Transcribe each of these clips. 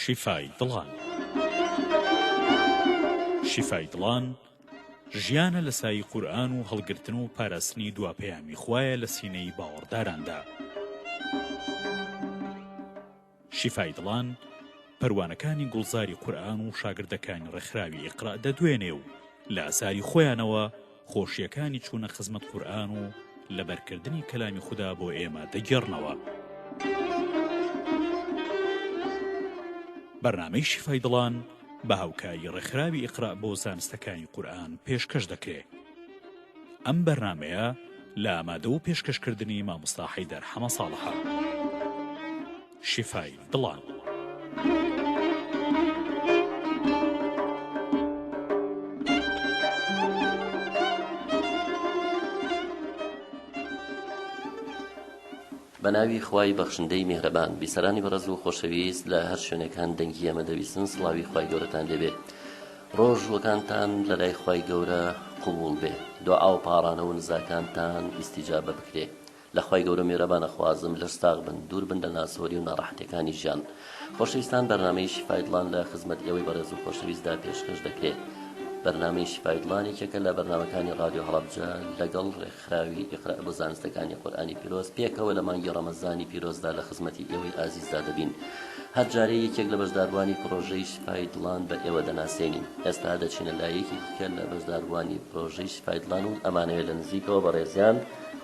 شیفای دڵان، ژیانە لە سایی قورئان و هەڵگرتن و پاراستنی دوا پەیامی خوایە لە سینەی باوەڕداراندا. شیفای دڵان، پەروانەکانی گوڵزاری قورئان و شاگردەکانی ڕێکخراوی ئیقرا دەدوێنێ و لە ئاساری خۆیانەوە خۆشییەکانی چوونە خزمەت قورئان و لەبەرکردنی کەلامی خودا بۆ ئێمە دەگێڕنەوە. بەرنامەی شیفای دڵان بە هاوکاری ڕێکخراوی ئیقرا بۆ زانستەکانی قورئان پێشکەش دەکرێ. ئەم بەرنامەیە لە ئامادە و پێشکەش کردنی مامۆستا حەیدەر حەمە ساڵحە شیفای دڵان. بە ناوی خوای بەخشندەی میهرەبان. بیسەرانی بەڕێز و خۆشەویست لە هەر شوێنێک هەن دەنگی ئێمە دەبیسن سڵاوی خوای گەورەتان لێبێ ڕۆژ وەکانتان لە لای خوای گەورە قبوڵ بێ دوعا و پاڕانە و نزاکانتان ئیستیجابە بکرێ لە خوای گەورە میرەبان ئەخوازم لەش ساغ بن دوور بن لە ناسۆری و ناڕەحەتیەکانی ژیان خۆشەویستان بەرنامەی شیفای دڵان لە خزمەت ئێوەی بەڕێز و خۆشەویستدا پێشکەش دەکرێ بەرنامەی شیفای دڵان یەکێکە لە بەرنامەکانی ڕادیۆ هەڵەبجە لەگەڵ ڕێک خراوی اقرا بۆ زانستەکانی قورئانی پیرۆز پێکەوە لە مانگی ڕەمەزانی پیرۆزدا لە خزمەتی ئێوەی ئازیزدا دەبین هەر جارەی یەکێک لە بەشداربووانی پڕۆژەی شیفای دڵان بە ئێوە دەناسێنین ئێستا دەچینە لای یەکێکی دیکە لە بەشداربووانی پڕۆژەی شیفای دڵان و ئەمانەوێت لە نزیکەوە بەڕێزیان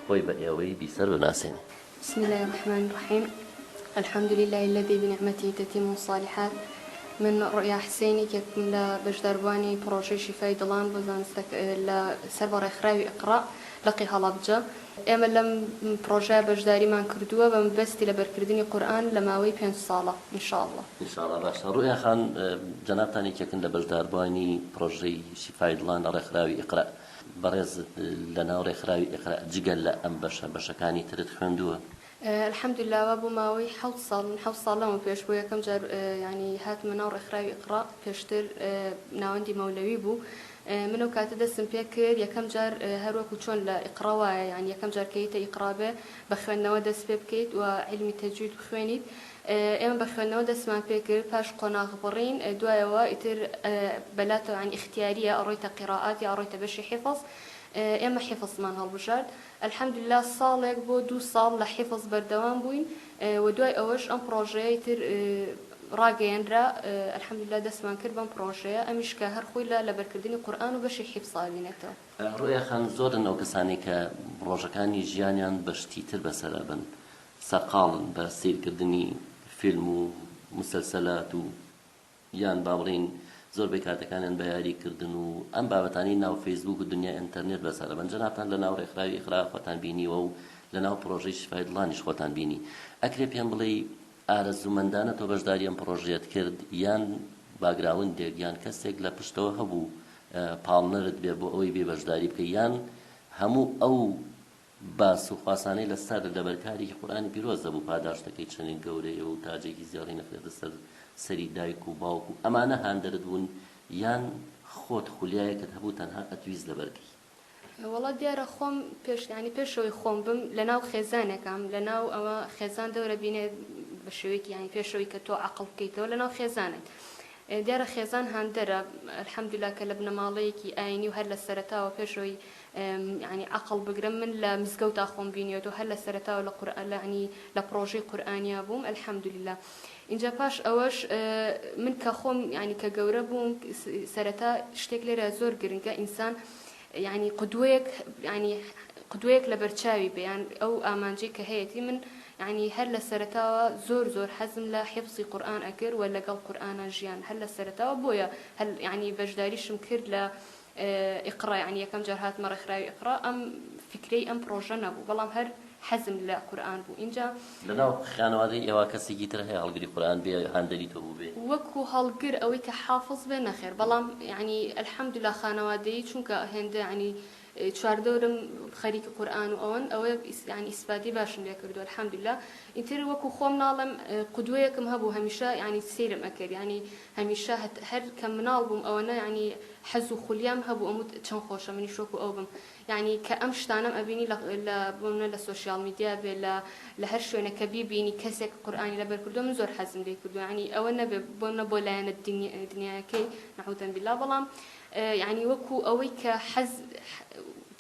خۆی بە ئێوەی بیسەر بناسێنێت بسم اللە الرحمن الرحیم الحمد للە الذی بنعمته تتم الصالحات من ڕوئیا حسین یەکێکم لە بەشداربووانی پڕۆژەی شیفای دڵان بۆ زانستە لە سەر بە ڕێکخراوی اقرا لقی هەڵەبجە ئێمە لەم پڕۆژەیە بەشداریمان کردووە بە مەبەستی لەبەرکردنی قورئان لە ماوەی پێنج ساڵە ان شاء اللە. ان شاء اللە باشە ڕوئیا خان جەنابتان یەکێکن لە بەشداربووانی پڕۆژەی شیفای دڵان لە ڕێکخراوی اقرا بەڕێز لەناو ڕێکخراوی ئیقرا جگە لە ئەم بەشە بەشەکانی ترت خوێندووە؟ الحمدللە وا بۆ ماوەی حەوت ساڵ من حەوت ساڵ لەمە پێش بۆ یەکەم جار یانی هاتمە ناو ڕێکخراوی ئیقرا پێشتر ناوەندی مەولەوی بوو من ئەو کاتە دەستم پێ کرد یەکەم جار هەروەکو چۆن لە ئیقرا وایە یان یەکەم جار کە یتە ئیقرا بێ بە خوێندنەوە دەست پێ بکەیت و عیلمی تەجوید بخوێنیت ئێمە بە خوێندنەوە دەستمان پێ کرد پاش قۆناغ بڕین دوایەوە ئیتر بە لا تەبعەن ئیختیاریە ئەڕۆیتە قیڕائات یا ئەڕۆیتە بەشی حیفز ئێمە حیفزمان هەڵبژارد الحمدللە ساڵێک بۆ دوو ساڵ لە حیفز بەردەوام بووین و دوای ئەوەش ئەم پڕۆژەیە ئیتر ڕاگەیەنرا الحمدللە دەستمان کرد بەم پڕۆژەیە ئەمیش کە هەر خۆی لە لەبەرکردنی قورئان و بەشی حیفز ئەبینێتەوە. ڕوئیا خان زۆرن ئەو کەسانەی کە ڕۆژەکانی ژیانیان بە شتی تر بەسەر ئەبەن سەرقاڵن بە سەیرکردنی فیلم و مسەلسەلات و یان با بڵێین زۆربەی کاتەکانیان بە یاری کردن و ئەم بابەتانەی ناو فەیسبووک و دنیای ئەنتەرنێت بەسەرە بەن جەنابتان لە ناو ڕێکخراوی ئیقرا خۆتان بینیوە و لە ناو پڕۆژەی شیفای دڵانیش خۆتان بینی ئەکرێ پێم بڵێی ئارەزوومەندانە تۆ بەشداری ئەم پڕۆژەیەت کرد یان باگراوندێک یان کەسێک لە پشتەوە هەبوو پاڵنەرت بێ بۆ ئەوەی بێ بەشداری بکەی یان هەموو ئەو باس و خواسانەی لە سەر لەبەر کارێکی قورئانی پیرۆز دەبوو پاداشتەکەی چەنێک گەورەیە و تاجێکی زێڕین ئەخرێتە سەر سەری دایک و باوک و ئەمانە هاندەرت بوون یان خۆت خولیایەکت هەبوو تەنها ئەتویست لەبەر کەی؟ وەڵا دیارە خۆم پێش یانی پێش ئەوەی خۆم بم لەناو خێزانێکام لەناو ئەوە خێزان دەورە بینێ بە شێوەیەکی یانی پێش ئەوەی کە تۆ عەقڵ بکەیتەوە لەناو خێزانت دیارە خێزان هاندەرە الحمدللە کە لە بنەماڵەیەکی ئاینی و هەر لە سەرەتاوە پێش ئەوەی یانی ئەقڵ بگرم من لە مزگەوتا خۆم بینیەوە هەر لە سەرەتاوە لە قورئان لە یانی لە پڕۆژەی قورئانیا بووم الحمدللە ئینجا پاش ئەوەش من کە خۆم یانی کە گەورە بووم سەرەتا شتێک لێرە زۆر گرنگە ئینسان یانی قدوەیەک یانی قدوەیەک لە بەرچاوی بەیان ئەو ئامانجی کە هەیەتی من یعنی هەر لە سەرتاوە زۆر زۆر حەزم لە حفزی قورآن ئەکرد و لەگەڵ قورآە ژیان هەر لە سەرتاوە بۆیە هەل یعنی بەشداریشم کرد لە ئیقڕا یەعنی یەکەم جار هاتمە ڕێکخراوی ئیقڕا ئەم فیکرەی ئەم پڕۆژە نەبوو بەڵام هەر حەزم لە قورئان بوو ئینجا. لەناو خانەوادەی ئێوە کەسێکی تر هەیە هەڵگری قورئان بێ هاندەری تۆ بووبێ؟ وەکو هەڵگر ئەوەی کە حافز بێ نەخێر بەڵام یەعنی الحمدللە خانەوادەیی چونکە هێندە یەعنی چواردەورم خەریکی قورئان و ئەوەن ئەوە یەعنی ئیسفادەی باشم لێ کردووە الحمدللە ئیتر وەکو خۆم ناڵێم قودوەیەکم هەبوو هەمیشە یەعنی سەیرم ئەکرد یەعنی هەمیشە هەر کە مناڵ بووم ئەوەنە یانی حەز و خولیام هەبوو ئەموت چەن خۆشە منیش وەکو ئەو بم یانی کە ئەم شتانەم ئەبینی لە لە بۆمنە لە سۆشیاڵ میدیا بێ لە لە هەر شوێنە کە بیبینی کەسێک قورئانی لەبەر کردوە من زۆر حەزم لێ کردوە یانی ئەوە نەبێ بۆمنە بۆ لایەنە دنی دنیایەکەی نعوزن باللە بەڵام یانی وەکو ئەوەی کە حەز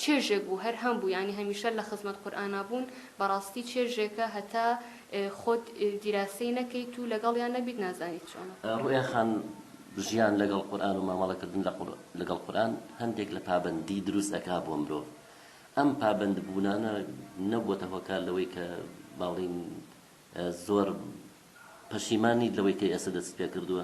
چێژێک بوو هەر هەم بوو یانی هەمیشە لە خزمەت قورئانا بوون بەڕاستی چێژێکە هەتا خۆت دیراسەی نەکەیت و لەگەڵیان نەبیت نازانیت چۆنە. ڕوئیا خان ژیان لەگەڵ قورئان و مامەڵە کردن لەگەڵ قورئان هەندێک لە پابەندی دروست ئەکا بۆ مرۆڤ ئەم پابەند بوونانە نەبووەتە هۆکار لەوەی کە با بڵێین زۆر پەشیمان نیت لەوەی کە ئێستا دەستت پێ کردووە؟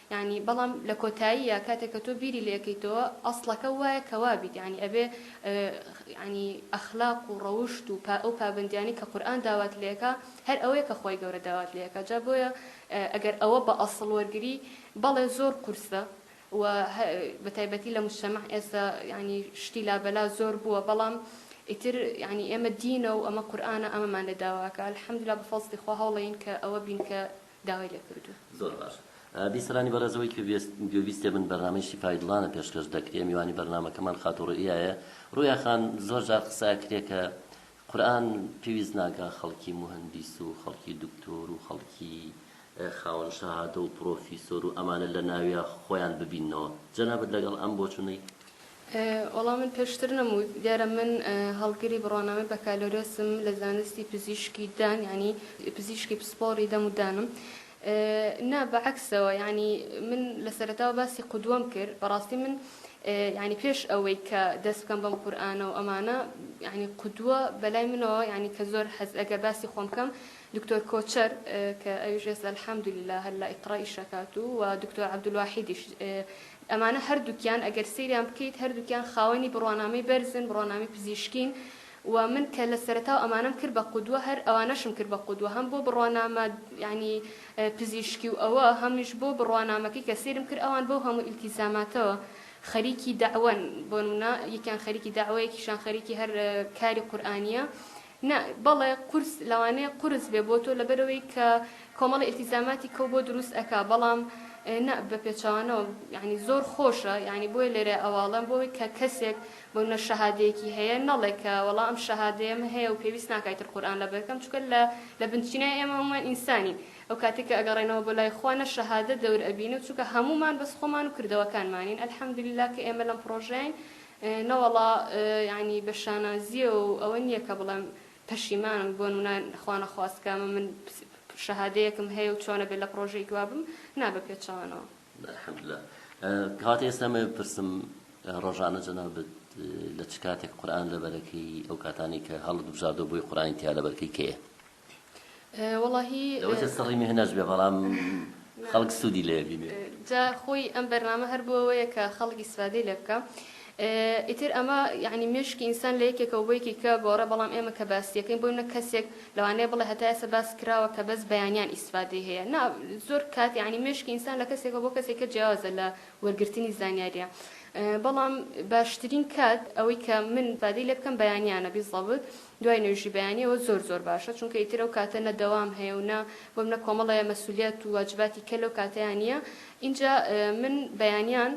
یانی بەڵام لە کۆتاییا کاتێک کە تۆ بیری لێ ئەکەیتەوە ئەسڵەکە وایە کە وابیت یانی ئەبێ یانی ئەخلاق و ڕەوشت و پا ئەو پابەندیانەی کە قورئان داوات لێ ئەکا هەر ئەوەیە کە خوای گەورە داوات لێ ئەکا جا بۆیە ئەگەر ئەوە بە ئەسڵ وەرگری بەڵێ زۆر قورسە و بە تایبەتی لە موجتەمەع ئێستا یانی شتی لابەلا زۆر بووە بەڵام ئیتر یانی ئێمە دینە و ئەمە قورئانە ئەمەمان لێ داوا ئەکا الحمدللە بە فەزڵی خوا هەوڵێین کە ئەوە بین کە داوای لێ کردوون. زۆر باش. بیسەرانی بەڕێز ئەوەی کوێست گوێبیستێ بن بەرنامەی شیفای دڵانە پێشکەش دەکرێ میوانی بەرنامەکەمان خاتوو ڕوئیا یە ڕوئیا خان زۆر جار قسە ئەکرێ کە قورئان پێویست ناکا خەڵکی موهەندیس و خەڵکی دکتۆر و خەڵکی خاوەن شەهادە و پڕۆفیسۆر و ئەمانە لە ناویا خۆیان ببیننەوە جەنابت لەگەڵ ئەم بۆچونەی وەڵا من پێشتر نەموت دیارە من هەڵگری بڕوانامەی بەکالۆرێسم لە زانستی پزیشکی دان یعنی پزیشکی پسپۆڕی دەم و دانم نا بەعکسەوە یعنی من لە سەرەتاوە باسی قودوەم کرد بەڕاستی من یعنی پێش ئەوەی کە دەست بکەم بەم قورآانە و ئەمانە یعنی قودوە بەلای منەوە یعنی کە زۆر حەز ئەگەر باسی خۆم بکەم دکتۆر کۆچەر کە ئەویش ئێستا الحمدللە هەر لە ئیقرا ئیش ئەکات و وە دکتۆر عبدالواحیدیش ئەمانە هەردووکیان ئەگەر سەیریان بکەیت هەردووکیان خاوەنی بڕوانامەی بەرزن بڕوانامەی پزیشکین و من کە لە سەرەتاو ئەمانەم کرد بە قودوە هەر ئەوانەشم کرد بە قودوە هەم بۆ بڕوانامە یانی پزیشکی و ئەوە هەمیش بۆ بڕوانامەکەی کە سەیرم کرد ئەوان بەو هەموو ئیلتیزاماتەوە خەریکی دەعوەن بۆ نمونە یەکیان خەریکی دەعوە یەکیشیان خەریکی هەر کاری قورئانیە نا بەڵێ قورس لەوانەیە قورس بێ بۆ تۆ لەبەرئەوەی کە کۆمەڵی ئیلتیزاماتی کەو بۆ دروست ئەکا بەڵام نا بەپێچەوانەوە یانی زۆر خۆشە یانی بۆیە لێرە ئەوەڵێم بۆ ئەوەی کە کەسێک بۆ نە شەهادەیەکی هەیە نەڵێ کە وەڵا ئەم شەهادەیەم هەیە و پێویست ناکا ئیتر قورئان لەبەر بکەم چونکە لە لە بنچینای ئێمە هەموومان ئینسانین ئەو کاتێک کە ئەگەڕێنەوە بۆ لای خوا نە شەهادە دەور ئەبینێ چونکە هەموومان بەس خۆمان و کردەوەکانمانین الحمدللە کە ئێمە لەم پڕۆژەین نەوەڵا یانی بە شانازییەوە و ئەوە نییە کە بڵێم پەشیمانم بۆ نمونە خوا نەخواست کە ئەمە من شەهادەیەکم هەیە و چۆنە بێت لە پڕۆژەی دوا بم نا بە پێچەوانەوە. الحمدللە کاتی ئێستا ئەمەوێ بپرسم ڕۆژانە جەنابت لە چ کاتێک قورئان لەبەرەکەی ئەو کاتانەی کە هەڵت بژاردوە بۆی قورئانی تیا لەبەرکەی کەیە؟ وەڵاهی لەوەتە سڕی مێهنەش بێ بەڵام خەڵک سوودی لێ بینێ جا خۆی ئەم بەرنامە هەر بۆەوەیە کە خەڵک ئیسفادەی لێ بکە ئیتر ئەمە یعنی مێشکی ئینسان لە یەکێکەوە بۆ یەکی کە گۆڕە بەڵام ئێمە کە باسیەکەین بۆی نە کەسێک لەوانەیە بڵێ هەتا ئێستا باس کراوە کە بەس بەیانیان ئیسفادەی هەیە نا زۆر کات یعنی مێشکی ئینسان لە کەسێکە بۆ کەسێکە جیاوازە لە وەرگرتنی زانیاریە بەڵام باشترین کات ئەوەی کە من بادی لێ بکەم بەیانیانە بیزەبت دوای نوێژی بەیانی ئەوە زۆر زۆر باشە چونکە ئیتر ئەو کاتە نە دەوام هەیە و نە بۆم نە کۆمەڵە یە مەسولیەت و واجباتی کە لەو کاتەیا نیە ئینجا من بەیانیان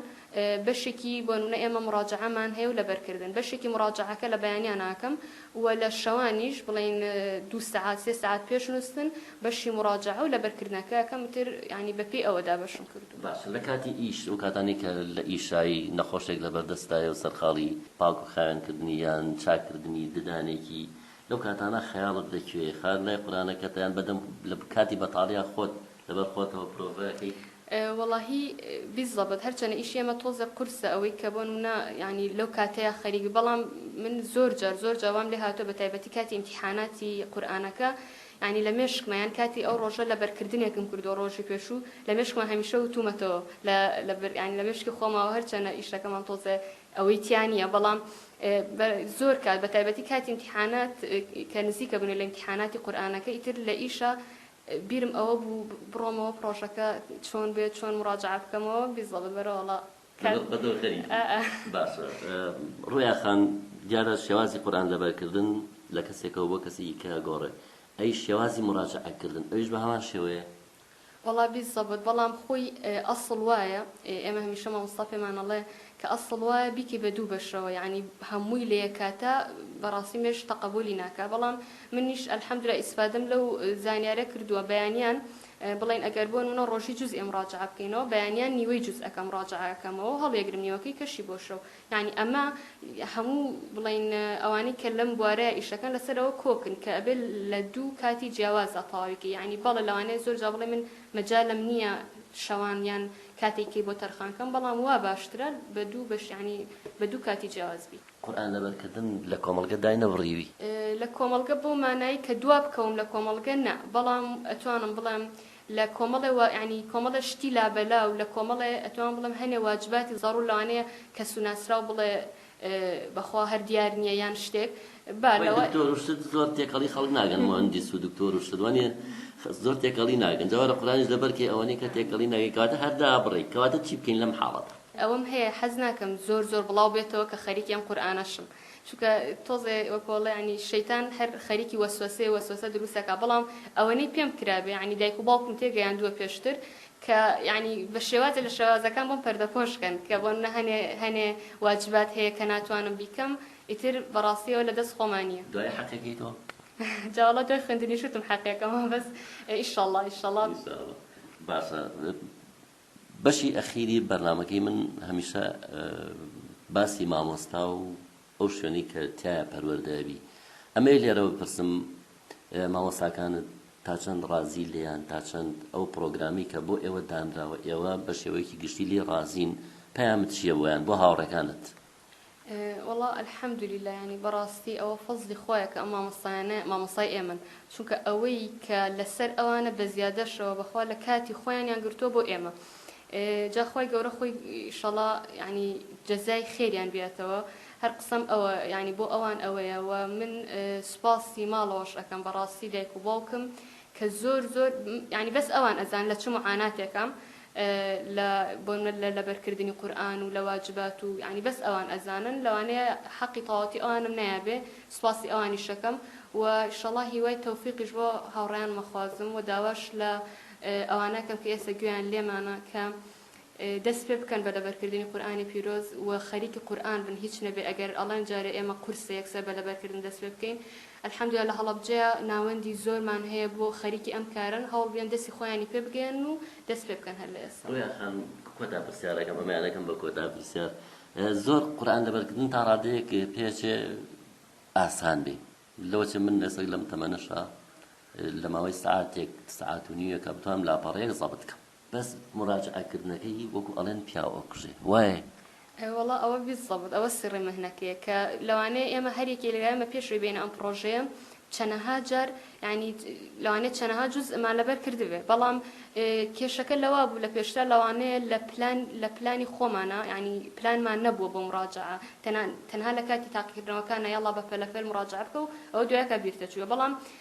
بەشێکی بۆ نمونە ئێمە مڕاجەعەمان هەیە و لەبەر کردن بەشێکی مڕاجەعەکە لە بەیانیان ئاکەم و لە شەوانیش بڵێین دوو سەعات سێ سەعات پێش نوستن بەشی مڕاجەعە و لەبەر کردنەکە ئەکەم ئیتر یانی بەپێی ئەوە دابەشم کردوە. باشە لە کاتی ئیش ئەو کاتانەی کە لە ئیشایی نەخۆشێک لە بەردەستدایە و سەرقاڵی پاک و خاوێن کردنی یان چاک کردنی ددانێکی لەو کاتانە خەیاڵت لە کوێیە خەیاڵت لای قورانەکەتە یان بەدەم لە کاتی بەتاڵیا خۆت لە بەر خۆتەوە پرۆڤە ئەکەی؟ وەڵاهی بیزەبت هەر چەنە ئیشی ئێمە تۆزێ قورسە ئەوەی کە بۆ نمونە یانی لەو کاتەیا خەریک بی بەڵام من زۆر جار زۆر جار وام لێ هاتوە بە تایبەتی کاتی ئیمتیحاناتی قورئانەکە یانی لە مێشکمە یان کاتی ئەو ڕۆژە لەبەر کردنێکم کردووە ڕۆژی پێشوو لە مێشکمە هەمیشە وتومەتەوە لە لەبەر یانی لە مێشکی خۆمەوە هەرچەنە ئیشەکەمان تۆزێ ئەوەی تیا نییە بەڵام بە زۆر کات بە تایبەتی کاتی امتحانات کە نزیکە بنێ لە امتحاناتی قورئانەکە ئیتر لە ئیشە بیرم ئەوە بوو بڕۆمەوە پڕۆژەکە چۆن بێت چۆن مڕاجعە بکەمەوە بیزەڵ بەرەوەڵا باشە ڕۆیا خان دیارە شێوازی قورئان لەبەرکردن لە کەسێکەوە بۆ کەسێکی کە گۆڕێ ئەی شێوازی مڕاجەعە کردن ئەویش بە هەمان شێوەیە؟ وەڵا بی زەبت بەڵام خۆی ئەسڵ وایە ئێمە هەمیشە مامۆستا پێمان ئەڵێ کە ئەسڵ وایە بیکەی بە دوو بەشەوە یانی هەمووی لە یەک کاتا بەڕاستی مێشک تەقەبولی ناکا بەڵام منیش الحمدللە ئیسفادەم لەو زانیارە کردووە بەیانیان بڵێن ئەگەر بۆ نموونە ڕۆژی جوزئێ مڕاجەعە بکەینەوە بەیانیان نیوەی جوزئەکە مڕاجەعە ئەکەمەوە و هەڵیەگرم نیوەکەی کەشی بۆ شەو یانی ئەمە هەموو بڵێن ئەوانەی کە لەم بوارەیە ئیشەکەن لەسەرەوە کۆکن کە ئەبێ لە دوو کاتی جیاوازا تەواوی کە یانی بەڵێ لەوانەیە زۆر جا بڵێ من مەجالم نییە شەوان یان کاتێکی بۆ تەرخان کەم بەڵام وا باشترە بە دوو بەش یانی بە دوو کاتی جیاواز بی. قورئان لەبەرکردن لە کۆمەڵگە داینەبڕیوی. لە کۆمەڵگە بەو مانای کە دوا بکەوم لە کۆمەڵگە نا، بەڵام ئەتوانم بڵێم لە کۆمەڵێ وا یانی کۆمەڵێ شتی لابەلا و لە کۆمەڵێ ئەتوانم بڵێم هەنێ واجباتی زەڕوور لەوانەیە کەس و ناسراو بڵێ بە خوا هەر دیار نییە یان شتێک با وەی لەوە دکتۆر و شت زۆر تێکەڵی خەڵک ناگەن موهەندیس و دکتۆر و شت وەنێ خە زۆر تێکەڵی ناگەن جا وەرە قورئانیش لەبەر کەی ئەوەنەی کە تێکەڵی ناگەی کەواتە هەر دابڕێی کەواتە چی بکەین لەم حاڵەتە. ئەوەم هەیە حەز ناکەم زۆر زۆر بڵاو بێتەوە کە خەریکی ئەم قورئانەشم چونکە تۆزێ وەکو ئەڵێ یانی شەیتان هەر خەریکی وەسوەسەیە وەسوەسە دروست ئەکا بەڵام ئەوەنەی پێم کرابێ یانی دایک و باوکم تێ گەیاندووە پێشتر کە یانی بە شێوازێ لە شێوازەکان بۆم پەردە پۆش کەن کە بۆ نە هەنێ هەنێ واجبات هەیە کە ناتوانم بیکەم ئیتر بەڕاستی ئەوە لە دەست خۆما نیە. دوای حەقێکەی تۆ؟ جا وەڵا دوای خوێندنیش وتم حەقێکەمە بەس ئیشەڵا ئیشەڵا. باسە. بەشی ئەخیری بەرنامەکەی من هەمیشە باسی مامۆستا و ئەو شوێنەی کە تایە پەروەردە ئەبی ئەمەی لێرەوە بپرسم مامۆستاکانت تا چەند ڕازی لێیان تا چەند ئەو پرۆگرامی کە بۆ ئێوە دانراوە ئێوە بە شێوەیەکی گشتی لێ ڕازین پەیامت چییە بۆیان بۆ هاوڕێکانت وەڵا الحمدللە یانی بەڕاستی ئەوە فەزڵی خوایە کە ئەم مامۆستایانە مامۆستای ئێمەن چونکە ئەوەی کە لەسەر ئەوانە بە زیادەشەوە بەخوا لە کاتی خۆیانیان گرتووە بۆ ئێمە جاخوای گەورە خۆی شەڵا ینی جەزای خێریان بێتەوە هەر قسەم ئەوە ینی بۆ ئەوان ئەوەیە و من سوپاسی ماڵەوەش ئەەکەم بەڕاستی دایک و باوکم کە زۆر زۆر ینی بەس ئەوان ئەزان لە چ معاناتێکم لە بۆ نمونە لە لەبەرکردنی قورئان و لە واجبات و یانی بەس ئەوان ئەزانن لەوانەیە حەقی تەواوەتی ئەوانم نەیابێ سوپاسی ئەوانیش ئەکەم و ئیشەڵا هیوای تەوفیقیش بۆ هاوڕێیانم ئەخوازم و داواش لە ئەوانە ئەکەم کە ئێستا گوێیان لێمانە کە دەست پێ بکەن بە لەبەرکردنی قورئانی پیرۆز و خەریکی قورئان بن هیچ نەبێ ئەگەر ئەڵێن جارێ ئێمە قورسە یەکسەر بە لەبەرکردن دەست پێ بکەین الحمدللە لە هەڵەبجەیە ناوەندی زۆرمان هەیە بۆ خەریکی ئەم کارەن هەوڵ بێن دەستی خۆیانی پێ بگەیەنن و دەست پێ بکەن هەر لە ئێستا. ڕویا خان کۆتا پرسیارەکەم ئەمەیە دەکەم بە کۆتا پرسیار زۆر قورئان لەبەرکردن تا ڕادەیەک پێچێ ئاسان بێ لەوەچێ من ئێستا لەم تەمەنەشا لە ماوەی سعاتێک سعات و نیوێکا بتوانم لاپەڕەیەک زەبت کەم بەس مراجعە کردنەکەی وەکو ئەڵێن پیاو ئەکوژێ وایە؟ وەڵا ئەوە بیزەبت ئەوە سڕی مەهنەکەیە کە لەوانەیە ئێمە هەر یەکێ لە ئێمە پێش ئەوی بێینە ئەم پڕۆژەیە چەنەها جار یانی لەوانەیە چەنەها جوز ئەمان لەبەر کردبێ بەڵام کێشەکە لەوا بوو لە پێشتر لەوانەیە لە پلان لە پلانی خۆمانە ینی پلانمان نەبووە بۆ مراجعە تەنان تەنها لە کاتی تاقیکردنەوەکانە یاڵا بە پەلەپەل مراجعە بکە و ئەو دوایەکە بیرتە چووە بەڵام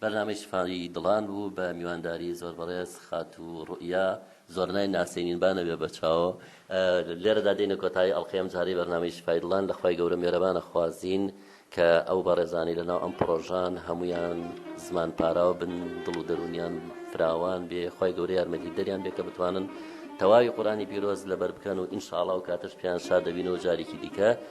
بەرنامەی شفای دڵان بوو بە میوانداری زۆر بەڕێز خاتوو ڕوئیا زۆرنای ناسێنین با نەبێ بە چاوۆ لێرەدا دێنە کۆتایی ئەڵقەی ئەم جارەی بەرنامەی شفای دڵان لە خوای گەورە مێرەبانە خوازین کە ئەو بەڕێزانەی لە ناو ئەم پڕۆژان هەمویان زمان پاراو بن دڵ و دەرونیان فراوان بێ خوای گەورە یارمەتی دەریان بێ کە بتوانن تەواوی قورانی پیرۆز لەبەر بکەن و ئینشاڵا و کاتەش پیان شاد دەبین و جارێکی دیکە